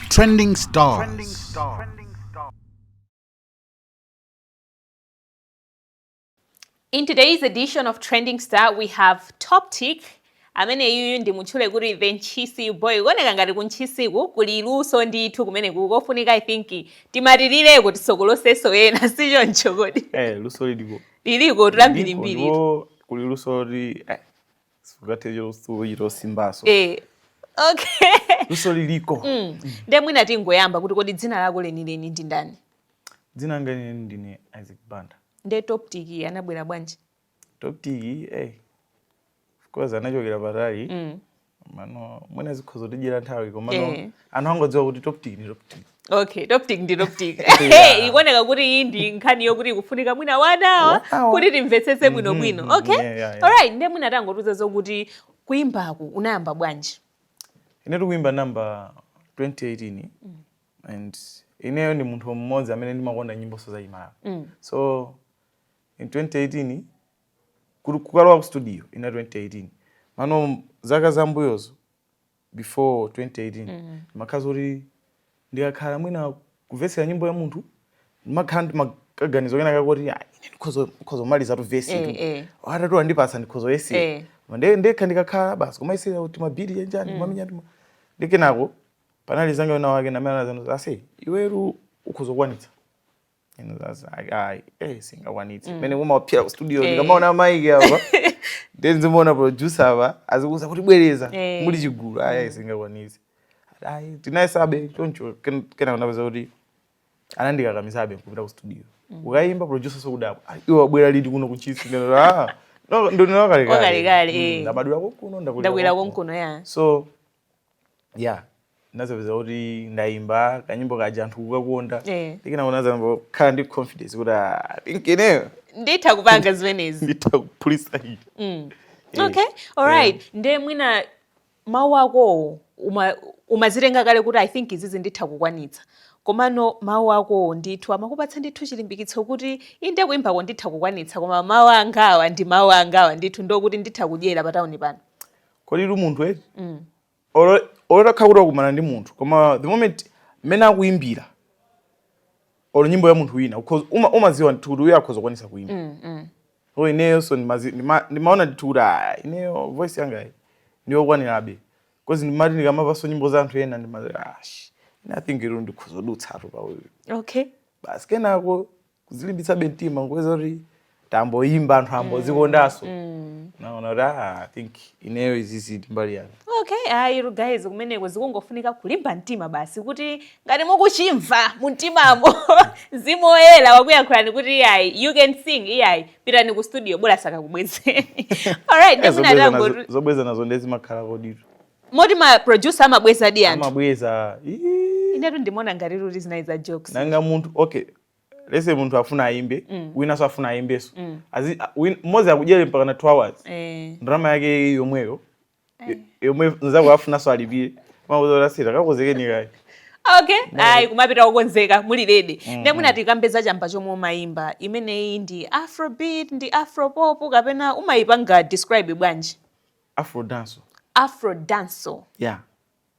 Trending stars. Trending stars. In today's edition of Trending Star, we have Top Tick amene uyu ndimutchule kuti the ntchisi boy kuoneka ngati kuntchisiku kuli luso ndithu kumene kukofunika i think timatilireko tisokolotsenso ena sichoncho kodi eh, luso liliko liliko tulambirimbiri kuli luso li eh, Eh, luso liliko mm. nde mwina tingoyamba kuti kodi dzina lako lenileni ndi ndani dzina langa lenileni ndine isaac banda nde toptic anabwera bwanji toptic eh. Eh, of course anachokera patali mm. komano mwina zikhoza kutidyera nthawi komano eh. anthu angodziwa kuti toptic ni toptic okay toptic ndi toptic Yeah. ikuoneka kuti iyi ndi nkhani yokuti ikufunika mwina wanawa Wanawa. kuti timvetsetse bwino Mhm, bwino mhm, okay yeah, yeah, yeah. alright ndiye mwina tangotiuza zokuti kuimbaku unayamba bwanji inetu kuimba ndinayamba 2018 and ineyo ndi munthu mmodzi amene ndimakonda nyimboso za Chimala Mm. so in 2018 kuti kukalowa ku studio inali 2018 mano zaka zambuyozo before 2018 ndimakhala zoti ndikakhala mwina kumvetsera nyimbo ya munthu ndimakhala ndi ma- kaganizo kena kake koti "Ah, ine ndikhoza ndikhoza kumalizatu vesi Eh, tu eh. atatu andipatsa ndikhoza yesa Eh. nde ndekha ndikakhala basi kumayesera kuti mabiri anjani kumamenya ndi ma- ndi kenako panali nzanga wina wake ndi amene anazanena ase iwetu ukhoza kukwanitsa Inu sasa ai- ai, eh, sindingakwanitse mmene mumaphera ku studio Eh. ndikamaona maiki apa then ndizimuona producer apa azikuuza kuti bwereza Eh. muli chigulu ayi ayi sindingakwanitse ayi tinayesabe choncho ken- kenako ndapeza kuti anandikakamisabe kupita ku studio kukayimba producer so kudabwa "Ah, iwe wabwera liti kuno kuntchisi Ah kalekale, eh. ndinabadwira konkuno Ndabwera konkuno, yeah. so yeah nazapeza kuti ndaimba kanyimbo kaja anthu kukakonda eh. ndikenako ndinazayamba kukhala ndi confidence kuti I think ineyo nditha kupanga zimenezi nditha kuphulisa iyi mm. Eh, okay alright yeah. nde mwina mawu akowo uma, umazitenga kale kuti i think izizi nditha kukwanitsa komano mawu akowo ndithu amakupatsa ndithu chilimbikitso kuti inde kuimbako nditha kukwanitsa koma mawu angawa ndi mawu angawa ndithu ndi okuti nditha kudyera patauni pano kodi tu munthu eti mm. olo utakhala kuti wakumana ndi munthu koma the moment mmene akuimbira olo nyimbo ya munthu wina umaziwa ndithu kuti uyo akhoza kukwanisa kuimba mm, mm. so ineyoso ndimaona ndithu kuti ah, ineyo voice yanga ndiyokwanirabe kozi ndimati ndikamamvaso nyimbo za anthu ena ndimati ash ah, I think ilo ndikhoza dutsatu pa uyu okay basi kenako kuzilimbitsabe mtima nkubweza kuti tamboyimba anthu ambozikondanso mm. mm. naona kuti ah, i think ineyo izizi mbali yanga okay ayi ah, guys kumeneko zikungofunika kulimba mtima basi kuti ngati mukuchimva mumtimamo mzimu woyera wakuyankhulani kuti iyayi you can sing iyayi pitani ku studio bola sakakubwezeni alright eh, zobweza nazo ndiye zimakhala koditu moti ma producer amabwezadi anthu amabweza inetu ndimaona ngati kuti zinali za jokes nanga munthu okay yes munthu afuna ayimbe mm. winanso afuna ayimbenso mm. mmodzi akudyere mpaka na 2 hours eh. ndalama yake yomweyo eh. yomwe nzako afunanso alipire amakuuza straight kakonzekeni kaye okay ayi kumapita kukonzeka muli ready mm. nde mwina tikambe za chamba chomwe umayimba imeneyi ndi afrobeat ndi afropop kapena umayipanga describe bwanji afro dancehall afro dancehall yeah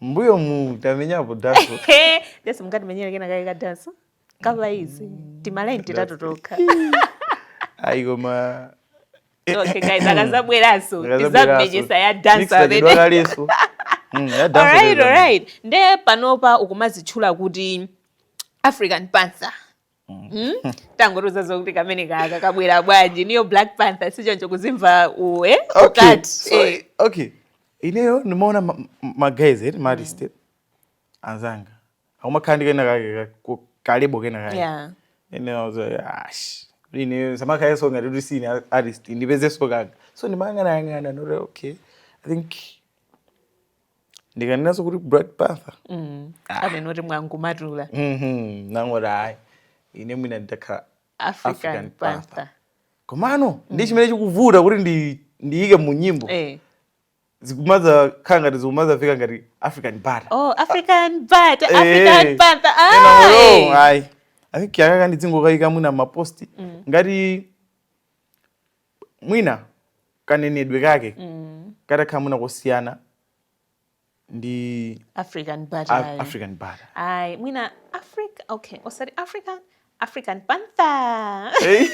mbuyomu tamenyapo dancehall yes mungatimenyere kena kake ka dancehall ka vesi timalaini titatu tokha ayi koma okay guys akazabweranso tizammenyesa ya dancehall amene Mm, alright alright nde panopa ukumazitchula kuti african panther Hmm? tangotiuza zokuti kameneka ka kabwera bwanji ndiwe black panther sichoncho kuzimva iwe ukati okay. Eh. okay ineyo ndimaona maguys ma, ma maartist mm. anzanga akumakhala ndi kena kake kalebo kena kake yeah. ineyo ash ine sumakhalanso ngati kuti sine artist ndipezeso kaka so ndimayang'anayang'ana ndiye okay i think ndikanenanso kuti black panther mm. ah. amene oti mwangomatula mm -hmm. nangoti ayi ine mwina nditakhala african, african panther, panther. komano mm. ndiye chimene chikuvuta kuti ndi ndiyike mu nyimbo eh. zikumazakhala ngati zikumamveka ngati african butter oh african butter eh. african eh. butter ai ai i think iya kaka ndidzingokaika mwina mapost mm. ngati mwina kanenedwe kake katakhala mwina kosiyana ndi african a- butter african butter ayi mwina africa okay osati african african panther Eh,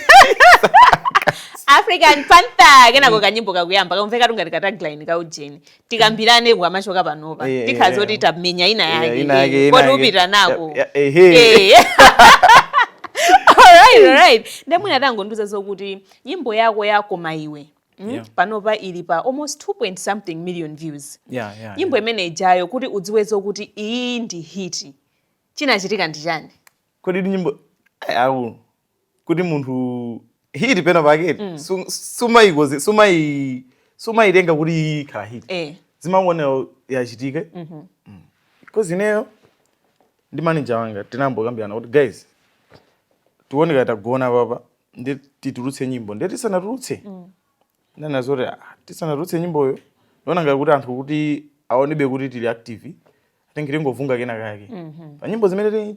african panther kenako kanyimbo kakuyamba kamveka kuti ngati ka tagline ka ujeni tikambirane tikamachoka panopa Eh, eh, tikhala eh. zoti tamenya ina Eh, yake ina yake, eh, ina yake. koti upitire nako Ya- ya- ehe. Eh. Alright, alright. nde mwina tangondiuza zokuti nyimbo yako ya koma iwe mm, Yeah. panopa ili pa almost 2 point something million views Yeah, yeah, nyimbo yeah. imene ijayo kuti udziwe zokuti iyi ndi hiti chinachitika ndi chani kodi ndi nyimbo Ai, au kuti munthu hit pena paketi mm. sumayikoze sumayi sumayitenga kuti ikhala hit eh. umangoonera yachitika mm -hmm. mm. because ineyo ndi manager wanga tinambokambirana kuti guys tione kaya tagona papa nde titulutse nyimbo nde tisanatulutse mm. tinaona zoti ah, tisanatulutse nyimboyo ndiona ngati kuti anthu akutionebe kuti tili active atenge tingovunga kena kake mm -hmm. pa nyimbo zimene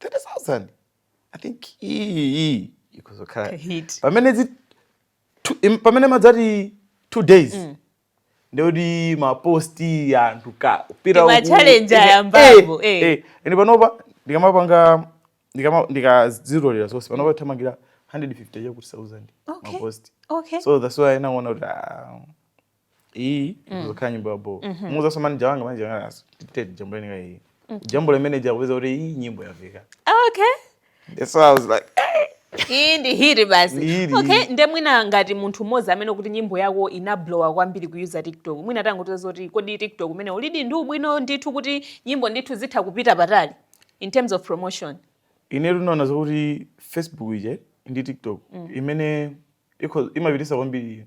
30000 i think iyi ikuzokhala hit pamene zi two- im- pamene madzati two days mm. ndekuti maposti anthu ka upira Ndi uku- ma-challenge eh, ayambapo, eh, eh. eh. ende panopa ndikamapanga ndikama- ndikazirolera zonse panopa ikuthamangira 150 chakuti 1000 Okay. maposti okay so that's why tinaona kuti ah, iyi mm. ikuzokhala nyimbo ya bo mm -hmm. namuuzanso manager wanga manager wanga nayeso ati tete jambuleni ka iyi mm. jambule nde kupeza kuti iyi nyimbo yafika oh, okay that's why i was like hey. iyi ndi hit basi okay nde mwina ngati munthu mmodzi amene kuti nyimbo yako inablowa kwambiri kuyuza tiktok mwina tangotiuza zoti kodi tiktok umene ulidi ndi ubwino ndithu kuti nyimbo ndithu zitha kupita patali in terms of promotion inde tinaona zakuti facebook ije ndi tiktok mm. imene imapitisa kwambiri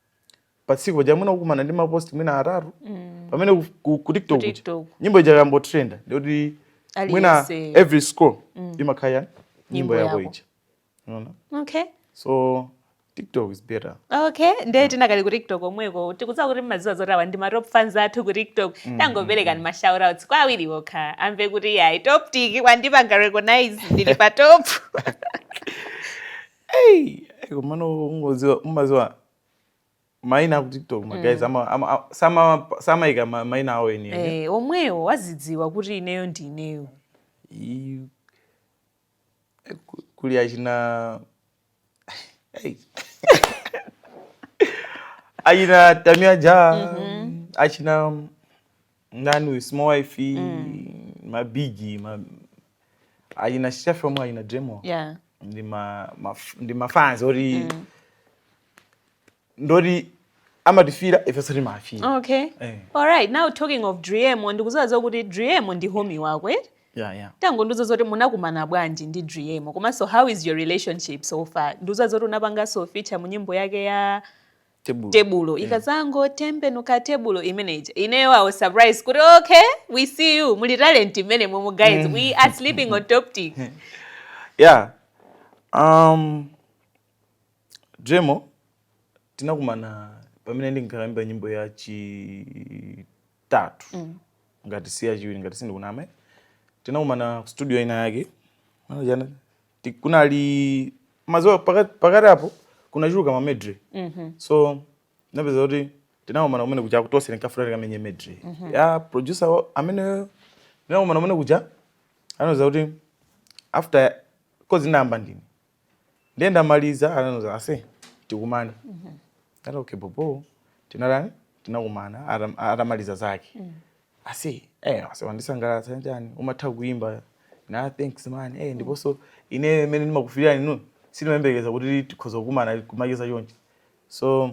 pa tsiku paja mwina kukumana ndi mapost mwina atatu mm. pamene ku, ku, ku tiktok Ku kuja, TikTok. nyimbo ija yayamba kutrenda ndekuti mwina Aliyense. every scroll imakhala nyimbo Nyimbo yako yako. ija unaona okay so tiktok is better okay ndiye tinakali ku tiktok omweko tikudziwa kuti mmaziwa zoti awa ndi ma top fans athu ku tiktok tangoperekani ma shoutouts kwa awiri okha amve kuti yayi top tik wandipanga recognize ndili pa top Hey, hey, komano ungoziwa umaziwa maina aku tiktok ma guys ama, ama, a- sama samaika ma- maina awo eni eni. Eh, omwewo azidziwa kuti ineyo ndi ineyo I- eh, ku- kuli achina Hey. achina tamia ja achina ndani uyu small wife mabigi achina chef omwe achina driemo yeah ndi ma ma- ndi mafans oti ndoti amatifira ifeso timawafira okay Eh. all right now talking of driemo ndikuziwa zokuti driemo ndi homie wako eh? yeah yeah tangondiuza zoti munakumana bwanji ndi driemo komanso how is your relationship so far ndikuziwa zoti unapanganso feature mu nyimbo yake ya tebulo, tebulo. Yeah. ikazangotembenuka tebulo imeneja ineyo i was surprised kuti okay we see you muli talent mmenemomo guys mm. we are sleeping on top tik yeah um driemo tinakumana pamene ndinkaimba nyimbo ya chitatu mm. ngati si yachiwiri ngati sindikunama tinakumana studio ina yake ti- kunali mazuwa pakati pakati apo kunachuluka ma medley so napeza kuti tinakumana kumene kuja kutose tinkafuna tikamenye medley ya producer wa- ameneyo tinakumana kumene kuja anauza kuti after kozi ndayamba ndini ndiye nditamaliza anandiuza ase tikumane ndati okay bobo tinatani tinakumana atam- atamaliza zake Aise eh aise wandisangalatsa nyani umatha kuimba na thanks man eh ndiponso ine mmene ndimakufilirani inu sindimayembekeza kuti tikhoza kukumana kumacheza chonchi so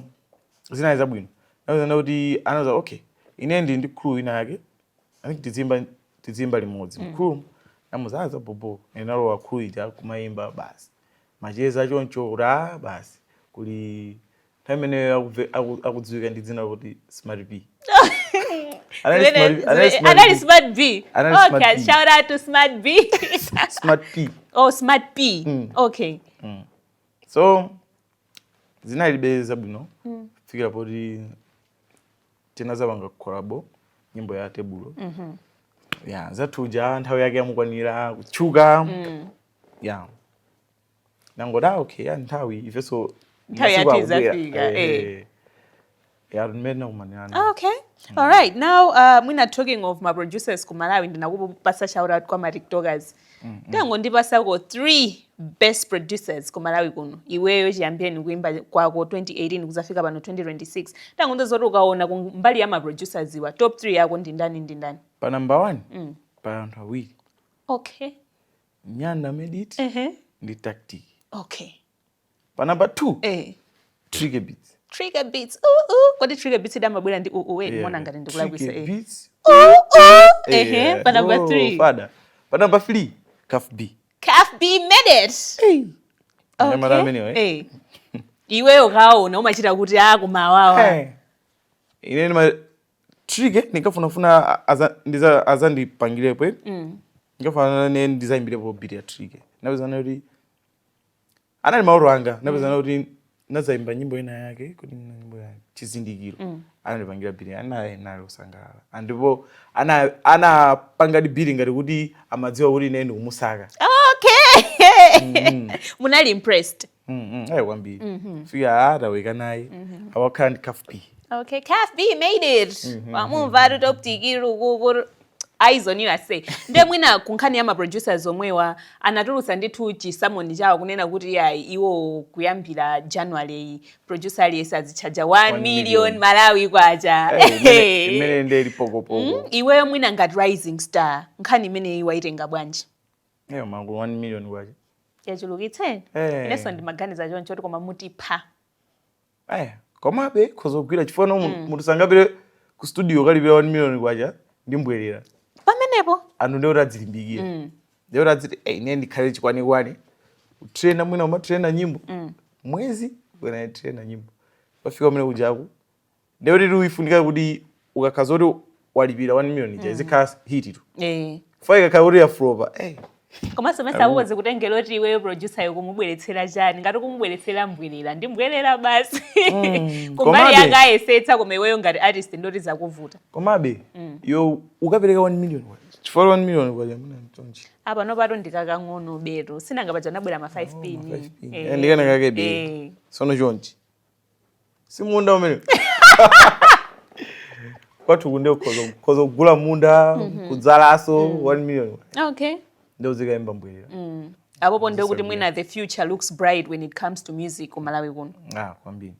zinali zabwino naona kuti anandiuza okay ine ndili ndi crew ina yake i think tizimba tizimba limodzi mm. crew namuuza za bobo ndinalowa crew ija kumaimba basi macheza choncho ra basi kuli nthawi imeneyo akudzi- aku- akudziwika ndi dzina loti smart b Anali Zimene- smart- zimene- anali smart anali B. smart b Anali smart okay B. shout out to smart b smart p oh smart p Mm. okay so zinalibe zabwino kufikira poti tinazapanga kolabo nyimbo ya tebulo yanzathu ija nthawi yake yamukwanira kutchuka ya nangoti ah, okay ya nthawi ifenso Nthawi yathu masiku akubwera. idzafika, Eh, eh. eh. Ya, mmene tinakumanirana. Ah, okay all right now uh, mwina talking of ma producers ku malawi ndinakupatsa shout out kwa ma tiktokers tangondipatsako three best producers ku malawi kuno iweyo chiyambireni kuimba kwako 2018 kuzafika pano 2026 tangondiuza zoti ukaona ku mbali ya ma producers awa top 3 yako ndi ndani ndi ndani pa number one pa anthu awiri okay nyanda medit uh -huh. ndi tactic okay pa number 2 eh trigger beats trigger beats uh uh kodi trigger beats dama bwera ndi uh uh eh mona ngati ndikulakwisa eh beats uh uh eh eh pa number 3 pada pa number 3 cuff b cuff b made it hey okay. nyamara ameneyo eh hey. iweyo kaona umachita kuti akumawawa hey. ine trick eh, ndinkafunafuna azandipangirepo eh. mm. ndinkafunafuna nane ndizayimbirepo beat ya trick napezana kuti anali maloto anga napezana mm. kuti nazayimba nyimbo ina yake kuti nyimbo ya chizindikiro mm. anandipangira beat naye anali kusangalala ndipo anapangadi beat ngati kuti amadziwa kuti ine ndikumusaka okay mm. munali impressed Mm, mm, ayi kwambiri Mhm. fika ataweka naye awakhala ndi Cuff B Okay, Cuff B made it. Wamumva eti top tiki rukukuru. aizonira sei nde mwina kunkhani ya maproducers omwewa anatulutsa ndithu chisamoni chawo kunena kuti ayi iwo kuyambira january producer aliyense azitchaja 1 One million million. malawi kwacha Eh, imene- imene ndiye ili pokopoko Mm, iweyo mwina ngati rising star nkhani imeneyi waitenga bwanji Eyo mmangu 1 million kwacha. Yachulukitsa? Eh. Inenso ndimaganiza choncho kuti koma mutipha. Eh, komabe khoza kugwira chifukwa no mm. munthu sangapire ku studio kukalipira 1 million kwacha ndi mbwerera. Pamenepo anthu ndiye kuti adzilimbikira. Mm. Ndiye kuti adziti eh ine ndikhale chikwanikwani. Kutrena mwina umatrena nyimbo. Mm. Mwezi wina kutrena nyimbo. Pofika kumene kujaku ndekuti zifunika kuti ukakhala zoti walipira 1 million ija izikhala hit tu Eh. fa ikakhala kuti yaflopa eh, komanso mesa uwozi kutengera kuti iweyo producer ukumubweretsera chani ngati kumubweretsera mbwerera ndi mbwerera basi kumbali komabe- yake ayesetsa koma iweyo ngati artist ndoti zakuvuta komabe yo ukapereka 1 million kwacha chifukwa 1 million kwacha muna mtonji apanopatu ndi kakang'onobetu si nanga paja anabwera ma 5 pin pin. Eh, Eh, ndi kenakakebe. eh. sono chonchi si munda umene kwathuku nde ukhoza- ukhoza kugula munda kudzalanso 1 million okay nde uzikaimba mbwerera apopo ndiye kuti mwina the future looks bright when it comes to music ku malawi kuno ah kwambiri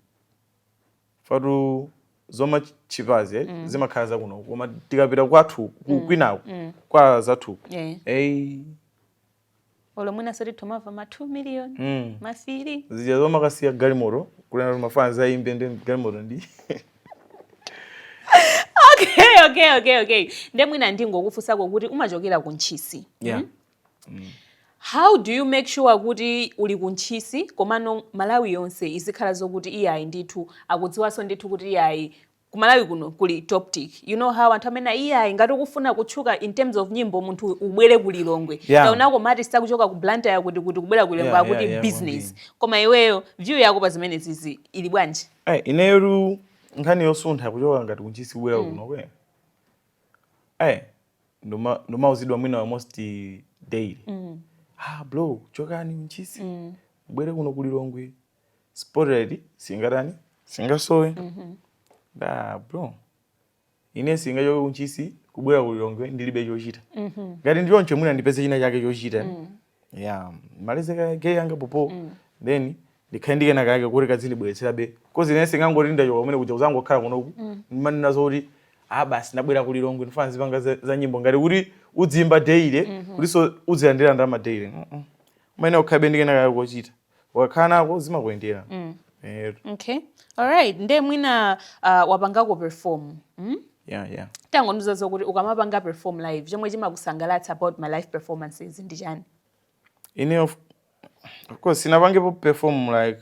ifetu za ma cheaper-zi eh? zimakhala zakuno koma tikapita kwathu ku- kwinaku kwa anzathu Yeah. eh olo mwinanso timamva ma 2 million mm. ma 3 zija zomakasiyira galimoto kunena kuti mafana zayimbe ndi galimoto ndi okay okay okay okay nde mwina ndingokufunsako kuti umachokera ku ntchisi yeah. mm? Mm. how do you make sure kuti uli ku ntchisi komano malawi yonse izikhala zokuti iyayi ndithu akudziwanso ndithu kuti iyayi ku Malawi kuno kuli Toptic you know how anthu amene iyayi ngati ukufuna kutchuka in terms of nyimbo munthu ubwere ku Lilongwe yeah. taonako ma artist akuchoka ku Blantyre kuti kuti kubwera ku Lilongwe yeah, akuti yeah, yeah, business koma iweyo view yako pa zimenezizi ili bwanji hey, eh, ineyo nkhani yosuntha kuchoka ngati ku Ntchisi kubwera mm. kuno kwe hey, eh, ndima ndimauzidwa mwina almost daily mm. ah bro chokani ku Ntchisi mm. mubwere kuno ku Lilongwe spotlight singatani singasowe mm -hmm. nda bro ine singachoke ku Ntchisi kubwera kulilongwe ndilibe chochita mm -hmm. ngati ndi choncho mwina ndipeze china chake chochita mm. yeah ndimalize kaye zanga apopo mm. then ndikhale ndi kenakake koti kadzindibweretserabe coz ine singangoti ndachoka kumene kuja kuzangokhala kunoku mm. ndimanenazo kuti ah basi nabwera kulilongwe ndifuna ndizipanga za, za nyimbo ngati kuti udziyimba daily mm -hmm. kutinso udzilandira ndama daily mm -mm. umayenera ukhalebe ndi kenakake kochita ukakhala nako zimakuyendera mm. Eh, okay alright nde mwina uh, wapangako perform mm? yeah, yeah. tangondiuza zokuti ukamapanga perform live chomwe chimakusangalatsa about ma live performances ndi chani ine of, of course sinapangepo perform like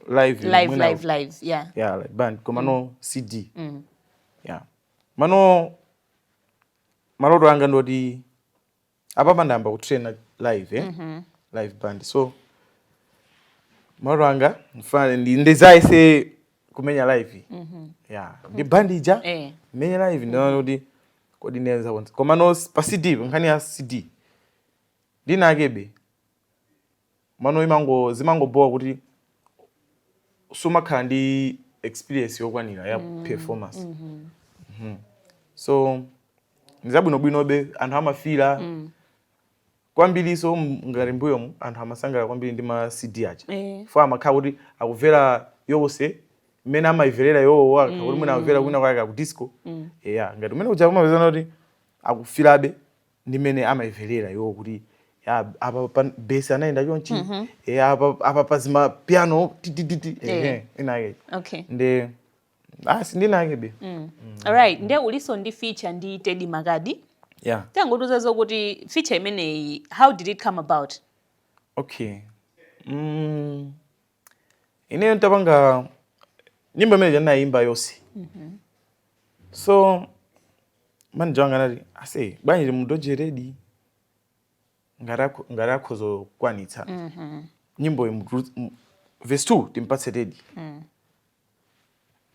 live live live live yeah yeah like band komano mm. cd mm. yeah mano maloto anga ndoti apapa ndayamba kutraina live eh? mm -hmm. live band so maloto anga mfuna ndizayese kumenya live mm -hmm. yeah. ndi band ija eh. mmenye live ndione kuti kodi ndizakwanitsa komano pa cd nkhani ya cd ndinakebe mano zimangobhowa kuti sumakhala ndi experience yokwanira ya mm. performance mm -hmm. Mm -hmm. so ndizabwinobwinobe anthu amafira mm. kwambiriso ngati mbuyomu anthu amasangalala kwambiri ndi ma cd aja eh. fo amakhala kuti akuivera nyimbo yonse mmene amayiverera iwowo akakhala kuti mwina mm. akuvera kwina kwake ku disco mm. eya ngati umene uja umapeza kuti akufirabe ndi mmene amaimverera iwo kuti ya, apa pa bass anayenda chonchi eh, apa apa pazima piano titititi Eh. ehe inake okay nde asi ndi inakebe alright nde uliso ndi feature ndi Teddy Makadi yeah tangotiuza zokuti feature imeneyi how did it come about okay mm, ineyo ntapanga nyimbo imene ija ndinayimba yonse mm-hmm. so manager wanga anati ase bwanji timudoje Teddy ngati akhoza kukwanitsa mm-hmm. nyimbo verse two timpatse Teddy mm.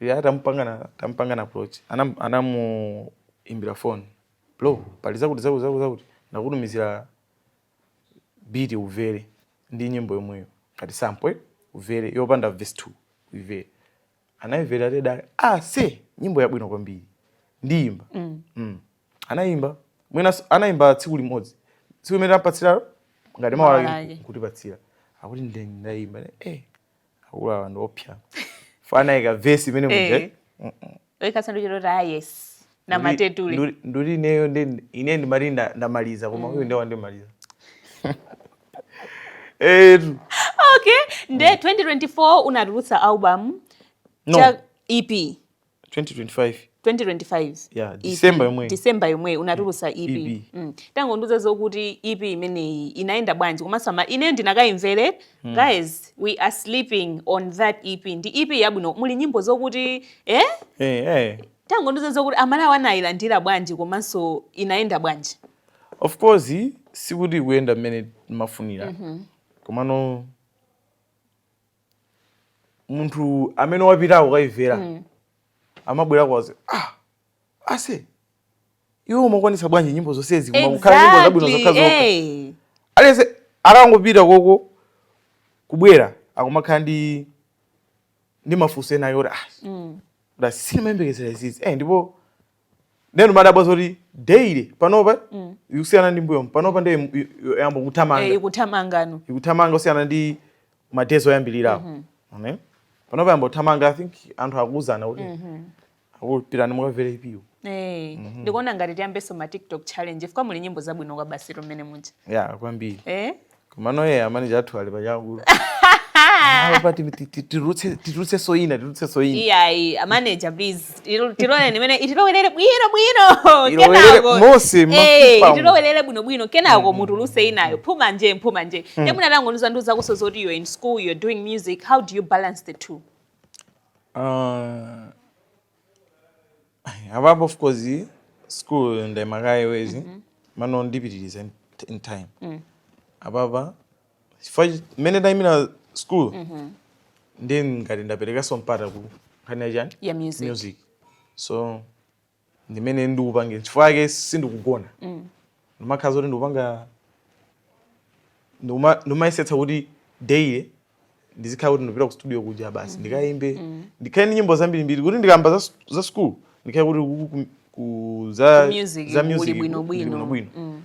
ya tampanga tampanga approach anam anamuimbira phone bro pali zakuti zakuti zakuti zakuti ndakutumizira beat uvere ndi nyimbo yomweyo ngati sample uvere yopanda verse 2 ivere anaivera Teddy ah ase nyimbo yabwino kwambiri ndiyimba mm. mm. anayimba mwinaso anayimba tsiku limodzi tsiku limene tampatsira ngati mawa lake kutipatsira akuti ndayimba eh akulu awa ndi oopsa fo anayika verse imene muja eh. oikasanduchero ta yes na matetule nduli ineyo ndi ine ndimati nda- ndamaliza koma uyu ndiye wandimaliza etu okay nde 2024 unatulutsa album No. EP 2025 2025 Yeah, EP, December yomweyi. December yomweyi unatulusa EP, EP. Mm. tangondiuza zokuti EP imeneyi inayenda bwanji komanso ama ineyo ndinakayimvera guys we are sleeping on that EP ndi EP yabwino muli nyimbo zokuti eh eh, eh. tangondiuza zokuti amalawi anayilandira bwanji komanso inayenda bwanji of course sikuti ikuyenda mmene timafunira komano munthu amene wapitako kukaivera mm. amabwerako azati ah, ase iweyo umakwanisa bwanji nyimbo zonsezi kumakukhala exactly. nyimbo zabwino zokhazokha hey. Eh. aliyense akangopita koko kubwera akumakhala ndi ndi mafunso enaake oti ah, mm. sindimayembekezera zizi eh, ndipo ndeno umadabwa zoti daily panopa mm. ikusiyana ndi mmbuyomu panopa nde yayamba kuthamanga eh, ikuthamanga no ikuthamanga kusiyana ndi ma days oyambirirawo mm -hmm. okay? panopa yayamba kuthamanga i think anthu akuuzana kuti mm -hmm. ah pitani mukavere EP yo Hey, eh, mm -hmm. ndikuona ngati tiyambeso ma TikTok challenge chifukwa muli nyimbo zabwino kwabasi mmene muja. Yeah, kwambiri. Eh? Komano a manager athu ali pachangu. Awo pati ti- ti- titulutse titulutse single ina titulutse single ina. iyayi a manager please Ilo- tiloleni imeneyi itilowelere bwino bwino Ilowelere kenako- mose, Eh, mafupa umu. itilowelere bwino bwino kenako mutuluse inayo phuma nje phuma nje nde mwina tangondiuza ndiuzakonso zoti you're in school you're doing music how do you balance the two Ah, apapa of course school ndaima kaye mwezi mm -hmm. mano ndipitirize in time mm. apapa chifukwa mmene ndaimira school mm -hmm. ndi ngati ndaperekanso mpata ku nkhani yachani yeah, music. music so ndimene ndikupangira chifukwa chake sindikugona mm. ndimakhala zoti ndikupanga ndikuma- ndikumayesetsa kuti daily ndizikhala kuti ndipita ku studio kuja basi ndikayimbe ndikhale ndi nyimbo zambirimbiri kuti ndikayamba za, s- za school ndikhale kuti ku, ku, ku, za, Ku music za kuli music bwinobwino. ndili bwinobwino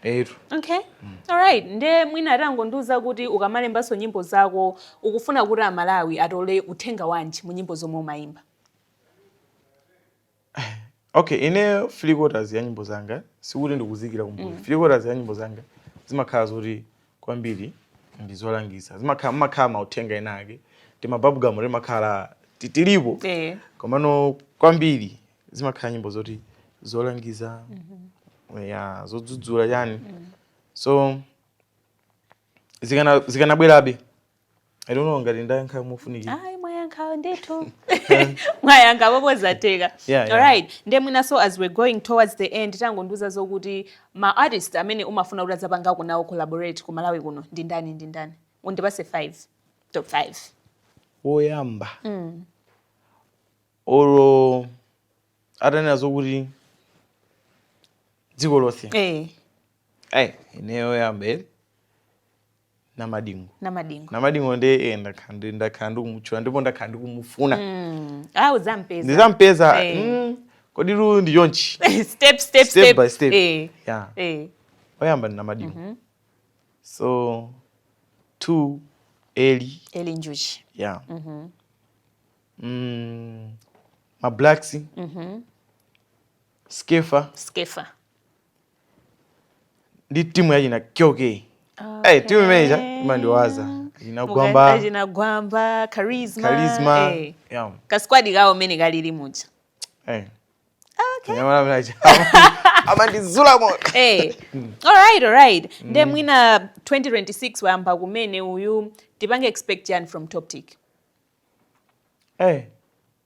etu okay alright nde mwina tangondiuza kuti ukamalembanso nyimbo zako ukufuna kuti amalawi atole uthenga wanji mu nyimbo zomwe umayimba Okay, ineyo three quarters ya nyimbo zanga sikuti ndikuziikira kumbuyo. Mm. Three quarters ya nyimbo zanga zimakhala zoti kwambiri ndi zolangiza. Zimakhala makhala mauthenga ena ake. Ndi mabubblegum oti makhala titilipo. Eh. Komano kwambiri zimakhala nyimbo zoti zolangiza. Mm -hmm. Ya zodzudzula yani. Mm. So zikana zikanabwerabe. I don't know ngati ndayankha mofunikira. Ayi mwayankha ndithu. Mwayankha bobo zatheka. Yeah, yeah. All right. Nde mwina so as we're going towards the end tangondiuza zokuti ma artist amene umafuna kuti udzapangeko nawo collaborate ku Malawi kuno ndi ndani ndi ndani. Undipatse 5. Top 5. Woyamba. Mm. Olo atanena zokuti dziko lonse. Eh. Hey, ine oyamba eri. namadingo namadingo namadingo ndi eh, ndakhala ndakhala ndikumutchula ndipo ndakhala ndikumufuna mm. ah uzampeza ndizampeza hey. Eh. mm, kodi lu ndi chonchi step, step, step, by step hey. Eh. yeah. hey. Eh. oyamba ndi namadingo mm -hmm. so two eli eli njuchi yeah mm -hmm. mm, mablacks mm -hmm. skefa skefa ndi timu ya china kyoke okay. timu imeneja imandiwaza china Gwamba china Gwamba charisma, charisma. Hey. Yeah. kasquad kawo mene kalili muja hey. okay. amandizula moyo hey. alright alright mm. nde mwina 2026 wayamba kumene uyu tipange expect chani from Toptic hey.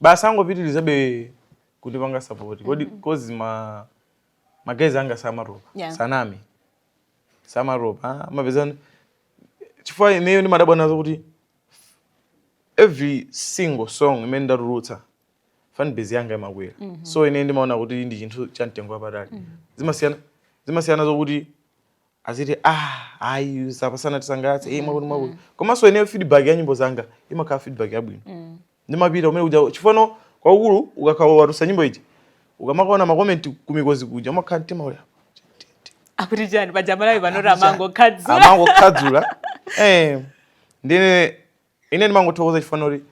basi angopitirizabe kundipanga support kodi mm -hmm. cause ma magaye anga samatopa yeah. sanami samatopa mapezani chifukwa ineyo ndimadabwa nazo kuti every single song imene ndatulutsa fanbase yanga imakwera mm -hmm. so ine ndimaona kuti ndi chinthu cha mtengo wapatali mm -hmm. zimasiyana zimasiyana zokuti aziti ah ayi uyu apa sanatisangalatse iye mwakuti mwakuti mm. komanso ineyo feedback ya nyimbo zanga imakhala feedback yabwino mm. ndimapita kumene kuja chifukwa kwakukulu ukakhala watulutsa nyimbo ija ukamakaona makomenti kumikozi kuja umakhala mtima uli akuti chani pajamalawi panoti amangokhadzula amangokhadzula eh ndine ine ndimangothokoza chifukwa choti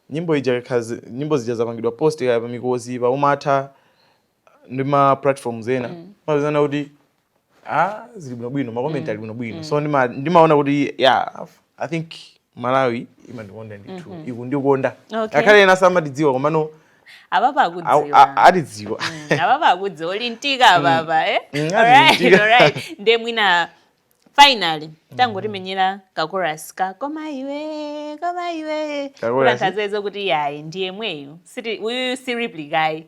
nyimbo ija kakhazi nyimbo zija zapangidwa post ija pamikozi pa umatha ndi ma platforms ena mm. umapezano kuti ah zili bwino bwino ma comment mm. ali bwino bwino mm. so ndima ndimaona kuti yeah i think malawi imandikonda ndithu mm -hmm. ikundikonda okay. angakhale ena samatidziwa komano ababa akutidziwa atidziwa mm, ababa akudziwa olintika ababa mm. eh mm, alright alright nde mwina finally tangotimenyera kakorasi ka koma iwe koma iwe kuti anthu adziwedi kuti yayi ndi yemweyu uyu si replikayi